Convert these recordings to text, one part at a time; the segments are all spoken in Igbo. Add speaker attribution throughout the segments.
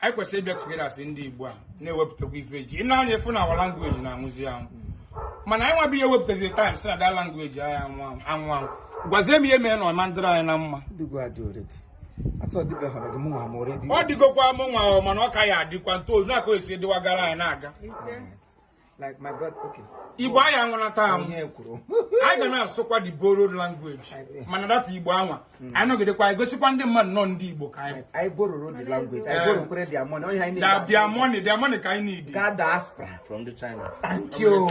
Speaker 1: anyị kwesịrị ịbịa together as ndị Igbo a na-ewepụtakwa ife eji ị na-anya efu na our language na-anwụzi anwụ mana anyị nwa bịa wepụtazi time sị na that language anyị anwụ anwụ anwụ gwazie m ihe mere na
Speaker 2: ọ ma dịrị anyị na mma ọ dịgokwa mụ nwa
Speaker 1: mana ọ ka ya adịkwa ntozu na-akọ esi dịwagara anyị na-aga
Speaker 2: like my brother okay igbo anyị
Speaker 1: anwụla taa m anyị ga na-asụkwa the borrowed language mana that igbo anwa hmm. anyị nọgidekwa anyị gosikwa ndị mmadụ na ndị igbo ka anyị anyị borrowro the
Speaker 2: language anyị borrowkwere their money onye anyị na their money their money ka
Speaker 1: anyị need ga
Speaker 2: diaspora from the
Speaker 3: china thank
Speaker 2: you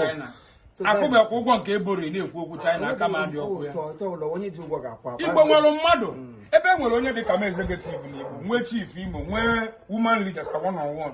Speaker 1: akwụbakwa ụgwọ nke e borrow na-ekwu okwu china aka ma dị
Speaker 2: ọkụ
Speaker 1: ya igbo nwere mmadụ hmm. ebe e nwere onye dị ka executive na igbo nwee chief imo nwee woman leader sir one on one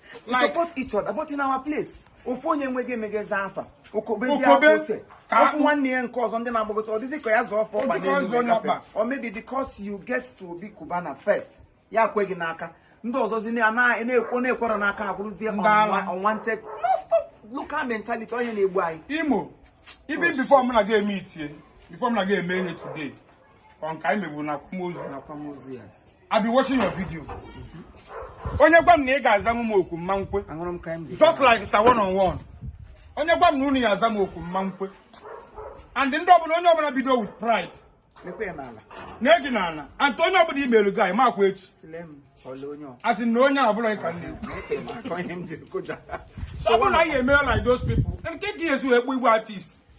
Speaker 2: like support each other but in our place ofu onye enweghị emegezi afa okobezi akote ọ fụ nwanne ya nke ọzọ ndị na-agbagota ọ dịzi ka ya zọọ fa ọkpa n'elu gafe or maybe because you get to be Cubana first ya kwe gị n'aka ndị ọzọzi na-ekwo na-ekwere n'aka abụrụzie unwanted no stop local mentality ọ ya na-egbu anyị
Speaker 1: imo ife oh, before m na gị emeetie before m na gị emeetie today ọ nke anyị meburu na akwamozu I've been watching your video. Onye gwa m na ị ga-aza m okwu m ma ekwe. Just like sir one on one. Onye gwa m na unu ya aza m okwu m ma ekwe. And ndị ọbụla onye ọbụla bido with pride. Na-egi n'ala. And onye ọbụla i mere gị anyị makwa echi. Asị na onye ọbụla ị ka nne. So ọ bụrụ na anyị emere like those people. Nke gị ezu ekpu igwe artist.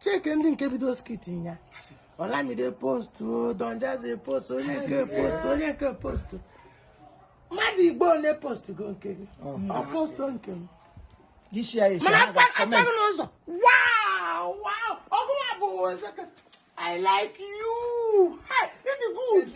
Speaker 4: checkie ndị nke bido skit ya olamide postu don jazzy postu onye nke postu onye nke postu mmadụ igbo ole postugo nke gị ọ postu nke m This
Speaker 2: year is mana another afọ comment. a fụ n'ụzọ
Speaker 4: wow wow ọ bụla bụ ozeke i like you hey, ị dị good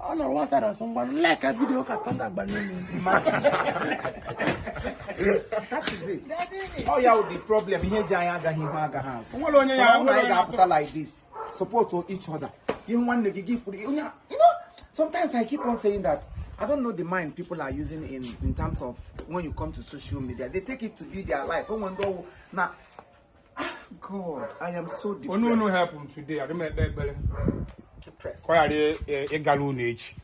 Speaker 4: ọ nọrọ one side ọ sị onye likea video ka thunder
Speaker 2: gbanye ọ ya bụ the problem ihe ji anyị agaghị ihu agaghị azụ nwere onye ya nwere ga-apụta like this support each other ihe nwanne gị gị kwuru onye you know sometimes i keep on saying that I don't know the mind people are using in, in terms of when you come to social media. They take it to be their life. When one now God, I am so depressed. Onu unu helpu m today.
Speaker 1: I don't make that better.
Speaker 2: Depressed. Kwa de e galu na echi.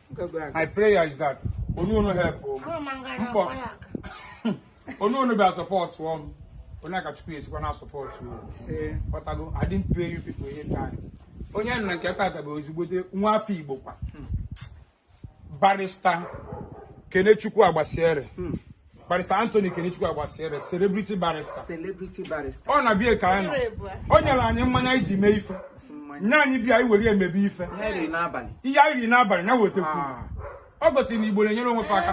Speaker 1: My prayer is that onu unu helpu m. Mpo. Onu unu be support one. Onu aka chukwu esi kwa na support you. Say, but I don't I didn't pay you people any time. Onye na nke tata bụ ezigbote nwa afọ Igbo kwa. Hmm. barrister kenechukwu agbasiere hmm. barrister anthony kenechukwu agbasiere celebrity barrister celebrity
Speaker 2: barrister ọ na-abịa ka anyị nọ
Speaker 1: o nyere anyị mmanya iji mee ife nya anyị bịa anyị were emebe ife
Speaker 2: ihe anyị riri n'abalị
Speaker 1: ya wetekwu ah. ọ gosi na igbo na-enyere onwe fa aka